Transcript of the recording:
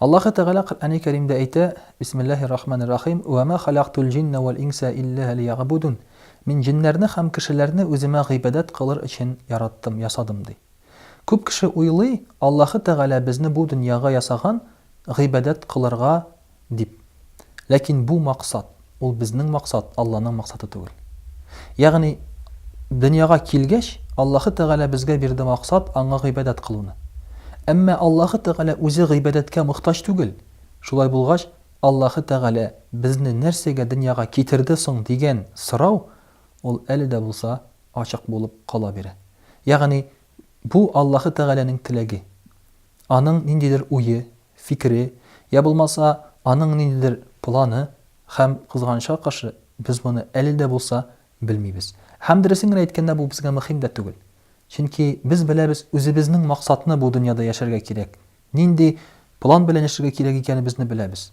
Аллаһы Тәгалә Коръәни Кәримдә әйтә, Бисмиллаһи рахмани рахим, Вә мә халактул җиннә вәл инсә иллә лиягъбудун. Мин җеннәрне һәм кешеләрне үземә гыйбадәт кылыр өчен яраттым, ясадым, ди. Күп кеше уйлый, Аллаһы Тәгалә безне бу дөньяга ясаган, гыйбадәт кылырга Дип. Ләкин бу максат, ул безнең максат, Алланың максаты түгел. Ягъни, дөньяга килгәч, Аллаһы Тәгалә безгә бирде максат, Аңа гыйбадәт кылуны. Әмма Аллаһы Тәгалә үзе гыйбадәткә мохтаҗ түгел. Шулай булгач, Аллаһы Тәгалә безне нәрсәгә дөньяга китерде соң дигән сорау, ул әле дә булса ачык булып кала бирә. Ягъни, бу Аллаһы Тәгаләнең теләге. Аның ниндидер уе, фикере, йә булмаса, аның ниндидер планы, һәм, кызганычка каршы, без моны әле дә булса белмибез. Һәм, дөресен генә әйткәндә, бу безгә мөһим дә түгел. Чөнки без беләбез үзебезнең максатны бу дөньяда яшәргә кирәк, нинди план белән яшәргә кирәк икәнебезне беләбез.